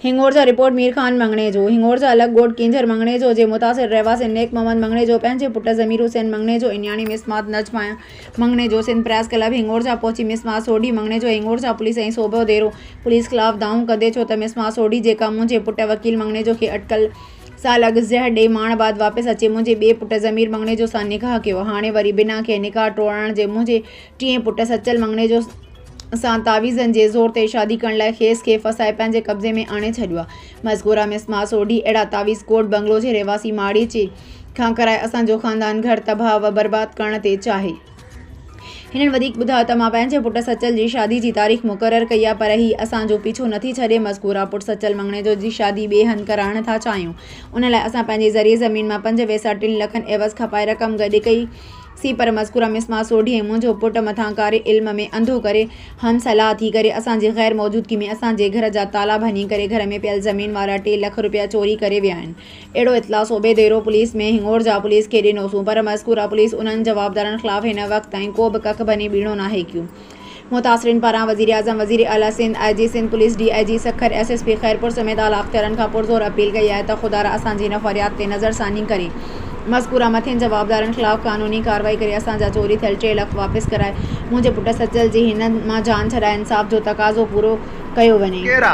هنڱور جا رپورٽ مير خان مڱڻيجو، هنڱور جا الڳ ڳوٺ ڪينجهر مڱڻيجو جي متاثر رهواسين نيڪ محمد مڱڻيجو پنهنجي پٽ ضمير حسين مڱڻيجو ۽ نياڻي مس مات Najma ۽ Mangnejo Sindh press club Hingorja پهچي مس مات سوڍي مڱڻيجو هنڱور جا پوليس ۽ صوبو ديرو پوليس خلاف دانهون ڪندي ڇو ته مس مات سوڍي جيڪا منهنجي پٽ وڪيل مڱڻيجو کي اٽڪل سال اڳ زهر ڏئي ماڻ بعد واپس اچي منهنجي ٻئي پٽ ضمير مڱڻيجو سان نڪاح ڪيو هاڻي وري بنا ڪنهن نڪاح ٽوڙڻ جي منهنجي ٽئين پٽ سچل مڱڻي جو سان تعويذن جي زور تي شادي ڪرڻ لاء کيس کي ڦاسائي پنهنجي قبضي ۾ آڻي ڇڏيو آ. مذڪوره مس ماء سوڍي اهڙا تعويذ ڪوٽ بنگلو جي رهواسي ماڙيچي کان ڪرائي اسان جو خاندان گهر تباهه و برباد ڪرڻ تي چاهي. هنن وڌيڪ ٻڌايو ته مان پنهنجي پٽ سچل جي شادي جي تاريخ مقرر ڪئي آ پر هي اسان جو پيڇو نٿي ڇڏي مذڪوره پٽ سچل مڱڻي جو جي شادي ٻئي هنڌ ڪرائڻ ٿا چاهيون ان لاء اسان پنهنجي ذري زمين مان پنج ويساهه ٽن لکن عيوض کپائي رقم گڏ ڪئي سي پر مذڪوره مس مان سوڍي ۽ منهنجو پٽ مٿان ڪاري علم ۾ انڌو ڪري هم صلاح ٿي ڪري اسان جي غير موجودگي ۾ اسان جي گهر جا تالا ڀڃي ڪري گهر ۾ پيل زمين وارا ٽي لک رپيا چوري ڪري ويا آهن اهڙو اطلاع صوبي ديرو پوليس ۾ هنڱور جا پوليس کي ڏنوسون پر مذڪوره پوليس انهن جوابدارن خلاف هن وقت تائين ڪو به ڪک ڀڃي ٻيڻو ناهي ڪيو متاثرين پاران وزيراعظم، وزير اعليٰ Sindh, I G Sindh police, D I G Sukkur, S S P Khairpur سميت اعليٰ اختيارن کان پرزور اپيل ڪئي آهي ته خدارا اسان جي هن فرياد تي نظر ثاني ڪري مذڪوره مٿين جوابدارن خلاف قانوني ڪارروائي ڪري اسان جا چوري ٿيل ٽي لک واپس ڪرائي منهنجي پٽ سچل جي هنن مان جان ڇڏائي انصاف جو تقاضو پورو ڪيو وڃي. ڪيرا.